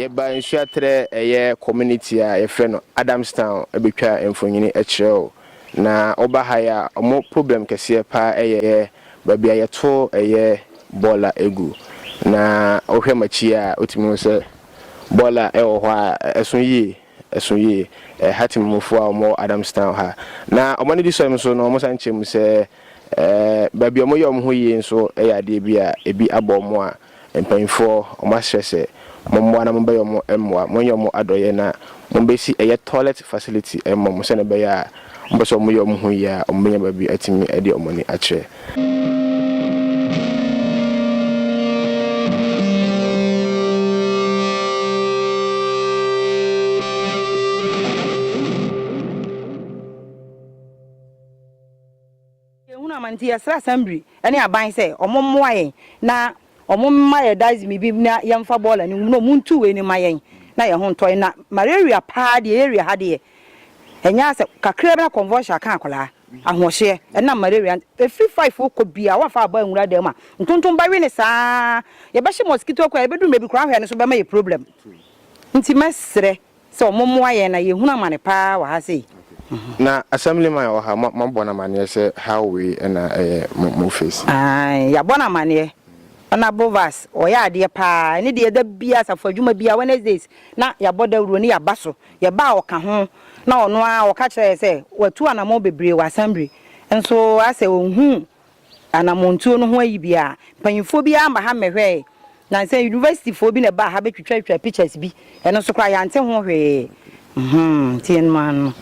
yɛba nsuaterɛ ɛyɛ community a yɛfrɛ no Adamstown bɛtwa mfonyini kyerɛ o na woba ha yɛ a ɔmo problem kɛseɛ paa ɛyɛ yɛ baabi a yɛto ɛyɛ bɔɔla egu na wohwɛ makyi a wotumi hu sɛ bɔɔla ɛwɔ hɔ a ɛso yie. ɛso yie. Ɛɛ Hatim mufo a wɔwɔ Adamstown ha. Na wɔn anigyesɛm nso no, wɔsan kyerɛ mu sɛ, ɛɛ baabi a wɔyɛ wɔn ho yie nso yɛ adeɛ bi a ebi abɔ wɔn a, mpanimfoɔ wɔasrɛ sɛ, Mommoa na mommɛyɛ wɔn mmoa. Monyɛ wɔn adɔeɛ na mommɛsi ɛyɛ toilet facility mma wɔn sɛdeɛ ɛbɛyɛ a Wɔpɛ sɛ wɔyɛ wɔn ho yie a, wɔbɛnya baabi atumi de wɔn ani akyerɛ. Yɛnhunu amane nti yɛsrɛ asɛmbri ne aban sɛ ɔmo mmoa yɛn na ɔmo mma yɛn dasme bi na yɛnfa bɔɔla no ngu mu na ɔmo ntu wei no mma yɛn na yɛn ho ntɔ yɛn na malaria paa deɛ area ha deɛ ɛnyɛ asɛm kakraa bi na convulsion aka akwadaa ahoɔhyeɛ ɛnam malaria ɛfiri five wokɔ biara woafa aba nwura dan mu a ntontomba we no saa yɛbɛhye mosquito coil yɛbɛduru mmerɛ bi koraa ahwɛ no so bɛma yɛ problem nti mɛsrɛ Sɛ ɔmo mmoa yɛn na yɛhunu amane paa wɔ ha sei. Na assemblyman a ɔha mo abɔ no amaneɛ sɛ how wei na ɛyɛ mo face. Ae yɛabɔ no amaneɛ. Honourable Vas ɔyɛ adeɛ paa ɛne deɛ da biaa asafo adwuma biaa Wednesdays na yɛabɔ dawuro ne yɛaba so yɛbaa ɔka ho na ɔno ara ɔka kyerɛ yɛn sɛ watu anamɔn bebree wɔ assembly nso asɛ ɔnhuu Anamɔntuo no ho ayi biaa, mpanyinfoɔ biaa amma ha mmɛhwɛɛ. Nansa university foɔ bi na ɛbaa ha bɛtwitwatwitwaa pictures bi, ɛno nso koraa yɛante ho hwee. Mhmm nti ɛnom ara no.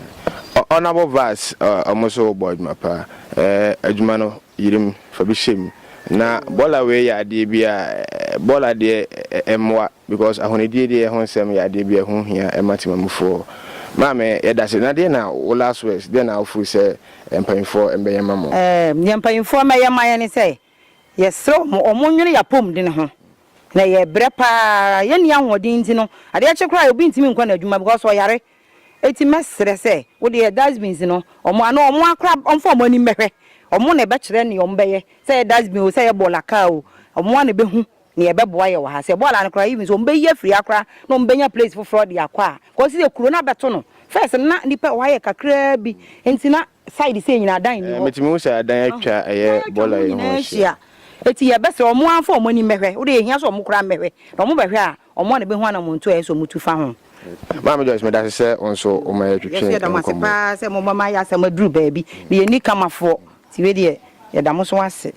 Honourable Vice, Wɔn nso wɔbɔ adwuma pa. Adwuma no, yere mu, fa bi hyɛ mu. Na bɔɔla wei yɛ adeɛ bi a, bɔɔla deɛ ɛmmoa because ahonidie deɛ ho nsɛm yɛ adeɛ bi a ɛho hia ma Temamufoɔ. Maame, yɛdase. Na deɛ na wo last words, deɛ na wo feel sɛ Deɛ mpanyimfoɔ mmɛyɛ mma mo. Ɛɛm, deɛ mpanyimfoɔ mmɛyɛ mma yɛn ne sɛ, yɛsrɛ wɔn, wɔnnwene yɛn apɔmuden ho, na yɛbrɛ pa ara, yɛnni ahoɔden nti no, adeɛ kye koraa a, obi ntumi nkɔ n'adwuma because ɔyare. Enti mɛsrɛ sɛ, wo deɛ dustbins no, wɔn ano, wɔn ara koraa wɔmfa wɔn anim mmɛhwɛ. Wɔn na ɛbɛkyerɛ deɛ wɔbɛyɛ, sɛ ɛyɛ dustbin o, sɛ ɛyɛ bɔɔla kaa o, wɔn ara na ɛbɛhu Nea ɛbɛboa yɛ wɔ ha sɛ, bɔɔl ano koraa, even sɛ wɔbɛyi afiri ha koraa na wɔbɛnya place foforɔ de akɔ a, because sɛ sɛ kuro no abɛto no, first no na nnipa a ɛwɔ ha yɛ kakraa bi, nti na side sei nyinaa adan nni hɔ. Metumi hu sɛ adan atwa ɛyɛ bɔɔla yi ho ahyia. Enti yɛbɛsrɛ wɔn ara mfa wɔn ani mmɛhwɛ, wo deɛ ɛhia sɛ wɔn koraa mmɛhwɛ, na wɔn bɛhwɛ a, wɔn ara na ɛbɛhu anammɔntuo a ɛsɛ sɛ wɔn tu fa ho. Maame Joyce, medase sɛ wo nso woma yɛtwetwe nkɔmmɔ. Yɛso yɛda mo ase paa sɛ moma mayɛ asɛm aduru baabi, meyɛ Nikamafoɔ, nti wei deɛ yɛda mo nso ase.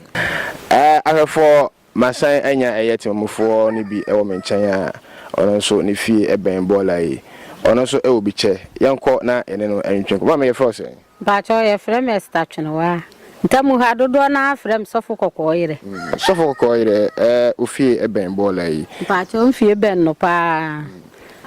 Ahwɛfoɔ Masan anya ɛyɛ temanmufoɔ no bi wɔ me nkyɛn a ɔno nso ne fie bɛn Bɔɔla yi. Ɔno nso wɔ bi kyɛ. Yɛnkɔ na yɛne no ntwentwɛn nkɔmmɔ. Maame, yɛfrɛ wo sɛn? Mpakyɛw, yɛfrɛ me Esther Twenewaa. Ntam ha, dodoɔ no ara frɛ me Sɔfo Kɔkɔɔ Yerɛ. Sɔfo Kɔkɔɔ Yerɛ, wo fie bɛn Bɔɔla yi? Mpakyɛw, me fie bɛn no pa ara.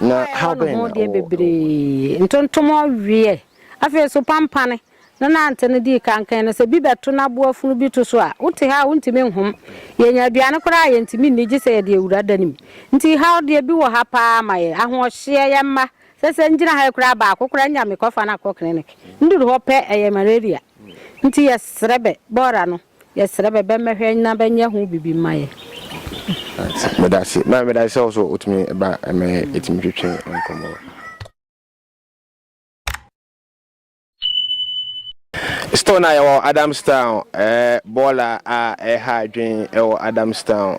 Na haw bɛn na wowɔ? Ɛwɔ me ho deɛ bebree, ntontom ɔweɛ, afei nso pampane. ne nante no dii kan kan no, sɛ bi bɛto no aboa funu bi to so a, wote ha a wontumi nhom. Yɛanya aduane koraa a yɛntumi nni gye sɛ yɛde awura da no mu. Nti haw deɛ bi wɔ ha paa ma yɛn. Ahoɔhyeɛ, yɛn mma, sɛ sɛ ngyina ha yi koraa baako koraa nya mekɔfa no akɔ clinic. Nduru hɔ pɛ ɛyɛ malaria. Nti yɛsrɛ bɛ, bɔɔra no, yɛsrɛ bɛ bɛmmɛhwɛ na bɛnyɛ ho bibi mma yɛn. Medase. Maame medase sɛ wo so wotumi ba ɛmɛ yɛtumi twetwe nkɔmmɔ. Store no a yɛwɔ Adamstown, ɛɛ, bɔɔla a ɛreha adwene ɛwɔ Adamstown,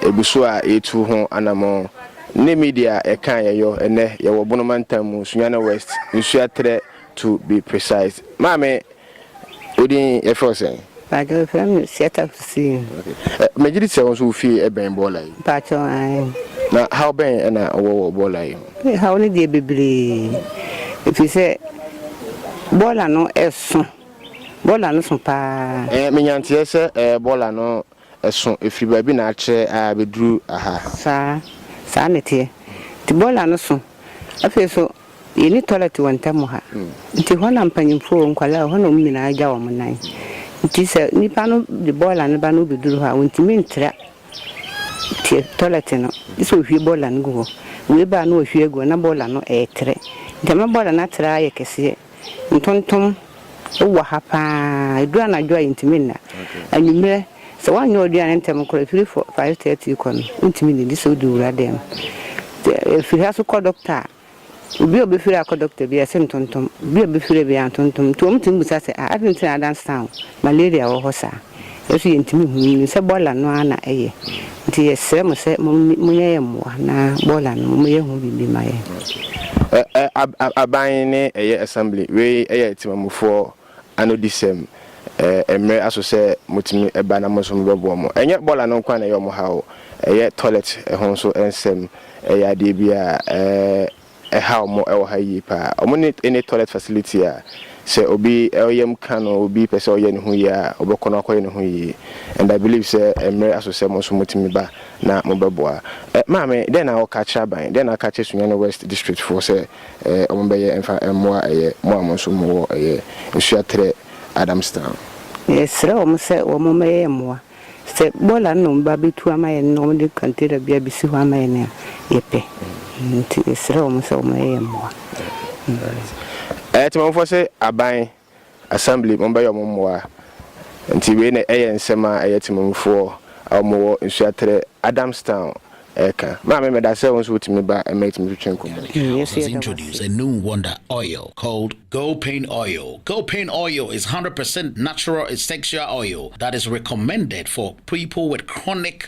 ɛgu so a yɛretu ho anamɔn. Ne media ɛka a yɛyɔ ɛnɛ, yɛwɔ Bono Mantam mu, Sunyani West, Nsuaterɛ to be precise. Maame, wo din yɛfrɛ wo sɛn? Mpakyɛ wɔfrɛ me Siata Hussein. Okay. Megye di sɛ wo nso wo fie ɛbɛn bɔɔla yi. Mpakyɛ ae. Na haw bɛn ɛna wɔ wɔ bɔɔla yi ho? Eh, haw no deɛ bebree. Ɛfiri sɛ bɔɔla no ɛso. Bɔɔla no so paa. Eh, menya nteɛ sɛ eh, bɔɔla no ɛso ɛfiri baabi na akyerɛ ah, bɛduru aha. Saa, saa na ɛteɛ. Nti bɔɔla no so. Afei so Yɛnni tɔlɛt wɔ ntam ha, nti hɔ na mpanyimfo o, nkwadaa o, hɔ na wɔn nyinaa gya wɔn nan. Nti sɛ nipa no de bɔɔla no ba na obeduru hɔ a, ontumi ntra te tɔlɛt no, gye sɛ ohwie bɔɔla no gu hɔ. Wei ba a na wahwie agu hɔ na bɔɔla no retrɛ. Nti ɛma bɔɔla no atra ara yɛ kɛseɛ. Ntontom wɔ ha paa. Ɛduru anadwo a yɛntumi nna. Anwummerɛ. Sɛ woannyɛ w'aduane no ntɛm nkɔ, ɛfiri fɔ, five thirty rekɔ no, wontumi nni, gye sɛ wodu wura dan mu. Sɛ ɛfiri ha nso kɔ dɔkta a, obi a ɔbɛfiri ha akɔ dɔkta biara, ɛse ntontom, obi a ɔbɛfiri ha biara ntontom. Nti wɔtumi bisa sɛ, ah, adɛn nti na Adamstown malaria wɔ hɔ saa? Yɛn nso yɛntumi nhu, yɛnim sɛ bɔɔla no ara na ɛyɛ. Nti yɛsrɛ mo sɛ momni, monyɛ yɛn mmoa na bɔɔla no momma yɛnhu biribi mma yɛn. Ɛ, ɛ, ab, ab, aban ne ɛyɛ assembly, wei yɛ temanmufoɔ anodisɛm, ɛɛ, mmere aso sɛ motumi ba na mo nso mobɛboa mo. Ɛnyɛ bɔɔla no nko ara na ɛyɛ wɔn haw o, ɛyɛ tɔlɛt ho nso nsɛm, ɛyɛ adeɛ bi a, ɛɛ, ɛhaw mo wɔ ha yie pa ara. Wɔn nni any tɔlɛt facility a sɛ obi yam ka no, obi pɛ sɛ ɔyɛ ne ho yie a, ɔbɛkɔ na wakɔyɛ ne ho yie. And I believe sɛ mmere aso sɛ mo nso motumi ba na mobɛboa. Ɛ, Maame, dɛn na woka akyerɛ aban? Dɛn na woka akyerɛ Sunyani West District foɔ sɛ ɛɛ ɔmo bɛyɛ mfa mmoa ɛyɛ mo a mo nso mo wɔ ɛyɛ nsuo aterɛ Adamstown. Yɛsrɛ wɔn sɛ wɔn mmɛyɛ mmoa. Sɛ bɔɔla no na wɔn ba bɛtu ama yɛn na wɔn de kɔntena bi abɛsi hɔ ama yɛn a, yɛpɛ. Nti yɛsrɛ wɔn sɛ wɔn mmɛyɛ mmoa. Ɛɛ Temamufoɔ se aban Assembly mo bɛyɛ ɔmo mmoa nti wei na ɛyɛ nsɛm a ɛyɛ temanmufoɔ a ɔmo wɔ Nsuaterɛ Adamstown ɛɛka. Maame medasɛ wo nso wo tumi ba ɛma yɛtumi twetwe nkɔmɔ yi. He has introduced a new wonder oil called Girl Pain Oil. Girl Pain Oil is hundred percent natural essexual oil that is recommended for people with chronic.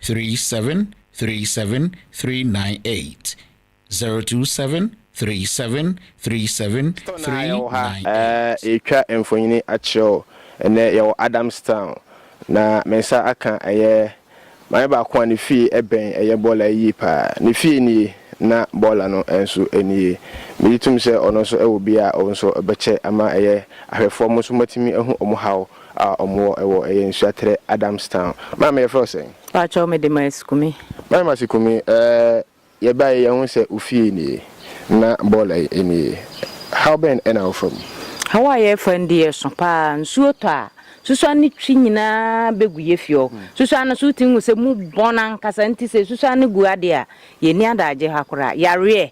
three seven three seven three nine eight zero two seven three seven three seven three nine eight. Yɛretwa mfonini akyerɛ wo ɛnnɛ, yɛwɔ Adamstown, na me nsa aka ɛyɛ maame baako a ne fie bɛn ɛyɛ bɔɔla yi yie paa. Ne fie nie, na bɔɔla no nso nie. Megye tom sɛ ɔno nso wɔ bi a ɔno nso ɔbɛkyɛ ama ɛyɛ ahwɛfoɔ mo nso moatumi ahu wɔn haw a ɔmo wɔ ɛwɔ ɛyɛ nsuaterɛ Adams town. Maame yɛfrɛ wo sɛn? Pakyɛw me de Mercy Kumi. Maame Mercy Kumi ɛɛ yɛ baeɛ yɛ hu sɛ wo fie nie na bɔɔla yi nie haw bɛn ɛna wo fa mu? Haw a yɛ fa mu de yɛ so paa nsuo tɔ a susuan ne twi nyinaa bɛ gu yɛ fie hɔ susuan no so wo tumi hu sɛ mu bɔn ankasa nti sɛ susuan no gu adeɛ a yɛ ni adaagye ha koraa yareɛ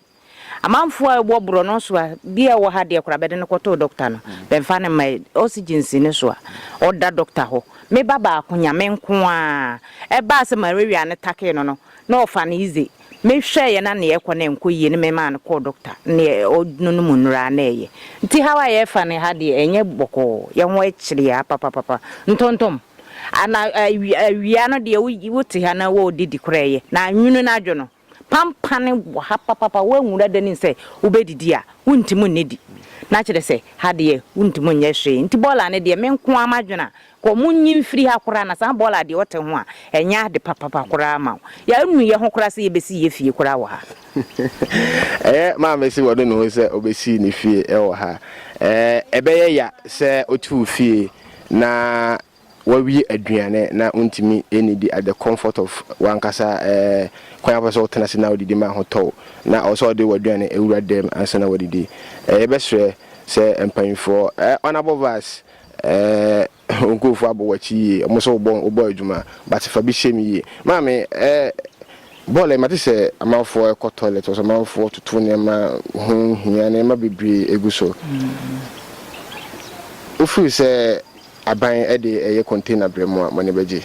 Amanfoɔ a wɔ borɔno so a bi a ɔwɔ ha deɛ koraa bɛde no kɔtoo dɔkta no bɛmfa no mma oxygen si ne so a ɔda dɔkta hɔ. Me ba baako nya me nko ara ɛbaa sɛ malaria no takee no no na ɔfa no easy me hwɛeɛ na neɛ ɛkɔ no ɛnkɔ yie ne me maa no kɔɔ dɔkta neɛ ɔnonom nnuro ara na ɛyɛ nti how a yɛfa no ha deɛ ɛnyɛ bɔkɔɔ yɛ ho akyiri a papapapa ntontom ana awia no deɛ wote ha na wɔɔdidi koraa ɛyɛ na anwunu no adwo no. Pampane wɔ ha papapa, woanwura da nim sɛ wobɛdidi a, wontim nnidi. Na kyerɛ sɛ, ha deɛ wontim nyɛ hwee. Nti bɔɔla no deɛ, me nko ara m'adwene a, kɔ monyi mfiri ha koraa na saa bɔɔla deɛ wote ho a, ɛnyɛ ade papapa koraa ma wo. Yɛanu yɛ ho koraa sɛ yɛbɛsi yɛ fie koraa wɔ ha. Ɛyɛ maame se wanu ne ho sɛ ɔbɛsi ne fie wɔ ha. Ɛbɛyɛ ya sɛ ɔte wo fie na Woawie aduane na wontumi nnidi at the comfort of w'ankasa kwan a wopɛ sɛ wotena ase na wodidi ma ahotɔ wo, na ɛwɔ sɛ wode w'aduane wura dɛm ansa na woadidi. Yɛbɛsrɛ sɛ mpanyimfoɔ, honourable vice, wo nkurɔfoɔ abɔ w'akyi yie, wɔn nso wɔbɔ adwuma, but fa bi hyɛ mu yie. Maame, bɔɔlɛ, mate sɛ amanfoɔ rekɔ toilet wɔ so, amanfoɔ retoto nneɛma ho hia, nneɛma bebree gu so. Wofiri sɛ. Aban de ɛyɛ container brɛ mo a mo ani bɛgye?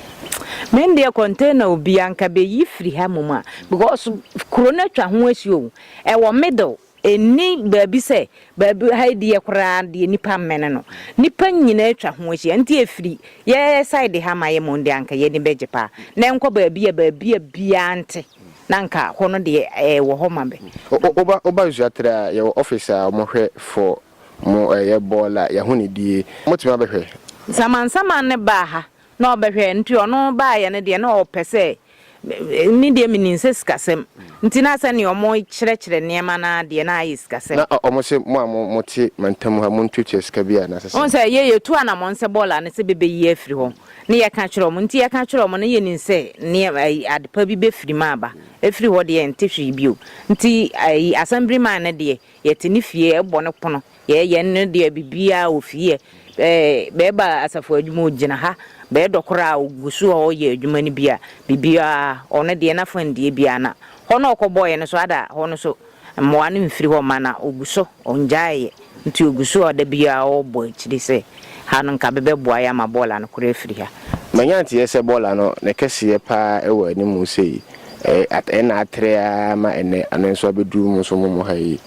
Me deɛ container o bia nka bɛyi firi ha mmom a because kuro no atwa ho ahyia o ɛwɔ middle ɛnni baabi sɛ baabi ha deɛ koraa deɛ nipa mmɛne no nipa nyinaa atwa ho ahyia nti ɛfiri yɛ side ha ma yɛ mmom deɛ anka yɛ ani bɛgye paa na ɛnkɔ baabi a baabi a biaa nte na nka hɔ no deɛ ɛwɔ hɔ ma bɛ. Woba Nsuatre a yɛwɔ office a wɔhwɛ for Mo ɛyɛ bɔɔl a yɛho ne die. Motumi abɛhwɛ. Samansaman no baa ha na ɔbɛhwɛ nti ɔno baayɛ no deɛ na ɔpɛ sɛ me deɛ menim sɛ sikasɛm nti na sɛdeɛ ɔmo kyerɛkyerɛ nneɛma no ara deɛ na ayɛ sikasɛm. Na ɔmo se mo a mote mantam ha montuatua sika bi a na ɛsɛ sɛ. Wohu sɛ yɛ yɛtu anamɔn sɛ bɔɔl a ne sɛ bɛbɛyi afiri hɔ ne yɛka kyerɛ ɔmo nti yɛka kyerɛ ɔmo na yɛnim sɛ nneɛma ayi adepa bi bɛfiri mu aba ɛfiri hɔ deɛ ɛnte hwee bio nti ayi asɛmbiri man no deɛ Yɛte ne fie, yɛbɔ no pono, yɛ yɛn no deɛ biribiara wɔ fie. Bɛɛba asafo adwuma ɔgyina ha, bɛɛdɔ koraa ɔgu so hɔ yɛ adwuma no bi a, biribiara ɔno deɛ n'afa ndie biara na hɔ na ɔkɔbɔeɛ no so ada hɔ no so mmoa no mfiri hɔ mma na ɔgu so ɔngyaeɛ nti ɔgu so a da biara ɔbɔ akyiri sɛ. Ha no nka bɛbɛboa yɛ ama bɔɔla no koro afiri ha. Manya nteɛ sɛ bɔɔla no ne kɛseɛ paa wɔ anim sei, ɛɛ ɛna atrɛ ara ma ɛnɛ ano nso abɛduru mo nso mo mo ha yi.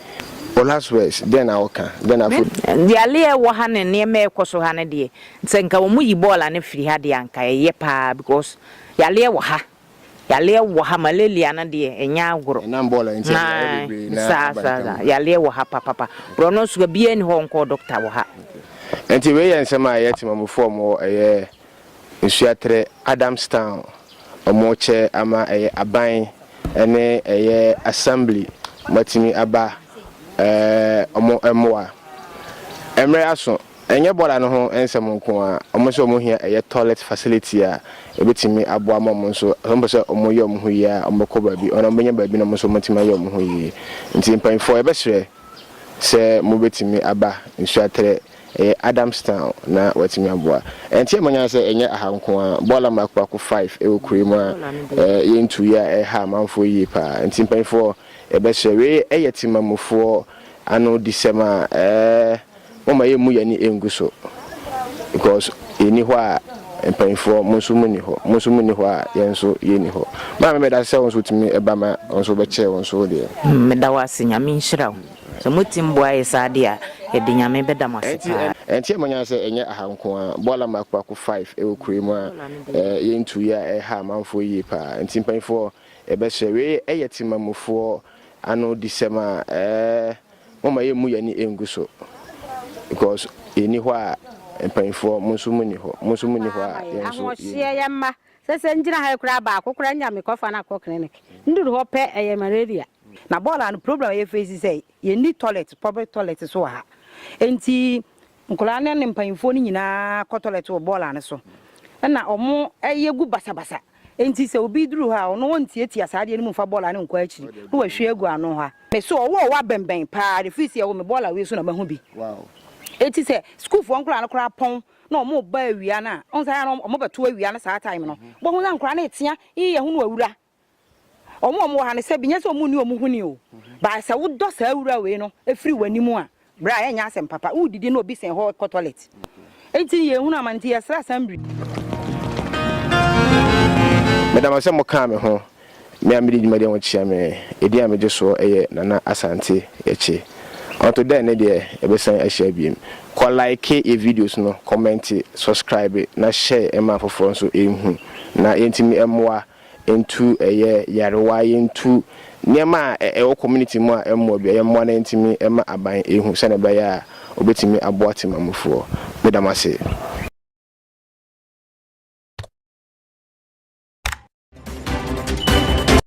Wo last words, dɛn na woka? Dɛn na afɔdi? Me deɛ ale a ɛwɔ ha ne nneɛma a ɛkɔ so ha no deɛ, sɛ nka wɔyi bɔɔla no firi ha deɛ anka ɛyɛ paa because yale wɔ ha. Yaleɛ wɔ ha malaria no deɛ ɛnyɛ agorɔ naae saa saa saa yaleɛ wɔ ha papapa borɔ no nso biaa ni hɔ nkɔɔ doctor wɔ ha. Nti wei yɛ nsɛm a ɛyɛ temamufoɔ a wɔwɔ ɛyɛ Nsuaterɛ, Adamstown, wɔrekyɛ ama ɛyɛ aban ne ɛyɛ assembly moatumi aba wɔn mmoa. Mmerɛ aso. Ɛnyɛ bɔda no ho nsɛm nko ara, wɔn nso wɔn hia ɛyɛ toilet facility a ɛbɛtumi aboa ama wɔn nso, sɛ wɔpɛ sɛ wɔyɛ wɔn ho yie a wɔbɛkɔ baabi anaa wɔbɛnya baabi na wɔn nso wɔatumi ayɛ wɔn ho yie. Nti mpanyinfoɔ yɛbɛsrɛ sɛ mobɛtumi aba Nsuaterɛ, ɛyɛ Adamstown na wɔatumi aboa. Ɛnte a manya sɛ ɛnyɛ aha nko ara, bɔda mmaako mmaako five ɛwɔ kuro yi mu a yɛntuui a ɛha amanfoɔ yie pa ara. Nti mpanyinfoɔ yɛbɛsrɛ, wei ɛyɛ Temamufoɔ ano disɛm a. Momma yɛmmu yɛn ani ngu so because yɛnni hɔ a mpanyinfoɔ mo nso monni hɔ, mo nso monni hɔ a yɛn nso yɛnni hɔ. Maame meda ase sɛ wo nso wotumi ba ma wo nso wobɛkyɛ wo nso wo deɛ. Meda wo ase, Nyame nhyira wo. Sɛ motim boa yɛ saa deɛ a, yɛde Nyame bɛda mo ase paa. Ɛnteɛ mo nyan sɛ ɛnyɛ aha nko ara, Boala Mako Ako Five wɔ kuro yi mu a yɛntu yɛ a ɛha amanfoɔ yie paa. Nti mpanyinfoɔ yɛbɛsrɛ, wei yɛ Tema mufoɔ ano disɛm a. Momma yɛmmu yɛn ani ngu so because yɛnni hɔ a mpanyinfoɔ mo nso monni hɔ, mo nso monni hɔ a yɛn nso yɛnni hɔ. Yɛ mma sɛ sɛ ngyina ha yi koraa baako koraa nnya me kɔfa no akɔ clinic. Nduru hɔ pɛ ɛyɛ malaria. Na bɔɔla no problem a yɛ face sɛ yɛnni toilet, public toilet so wɔ ha nti Nkwadaa no ne mpanyimfoɔ no nyinaa kɔ tɔlɛt wɔ bɔɔla no so na wɔyɛ gu basabasa. Enti sɛ obi duru hɔ a, ɔno ɔntiatia saa adeɛ no mu mfa bɔɔla no nkɔ akyiri na wahwie agu ano ha. Me so ɔwɔ ɔwɔ abɛnbɛn pa ara firi sɛ yɛwɔ me bɔɔla wei so na mahu bi. Enti sɛ sukuufoɔ nkwadaa no koraa pɔn na wɔreba awia no a, wohu sɛ ayɛ a na wɔbɛto awia no saa time no. Wobɛhu sɛ nkwadaa no retea, ii yɛho no awura. Wɔn a wɔwɔ ha no, sɛ bi nyɛ sɛ wɔn nni wɔn ho ni o, but sɛ wodɔ saa wura wei no firi w'anim a, bra ɛnyɛ asɛm papa. Wodidi na obi sɛn hɔ kɔ toilet. Enti yɛn hunu amane nti yɛsrɛ asɛmbri. Meda mo ase sɛ mo kaa me ho. Me a me di dwumadi a wɔn kyia me. Edin a me gye soɔ yɛ Nana Asante Yɛkye. Until then ne deɛ yɛbɛ san ahyia biem. Kɔ like yɛ videos no, comment, subscribe na share ma afoforɔ nso nhu na yɛntumi mmoa Ntu ɛyɛ yarewa yɛntu nneɛma a ɛwɔ community mu a ɛmmoa bi a yɛmmoa na yɛntumi ma aban ɛhu sɛdeɛ ɛbɛyɛ a ɔbɛtumi aboa temamufoɔ. Meda mo ase.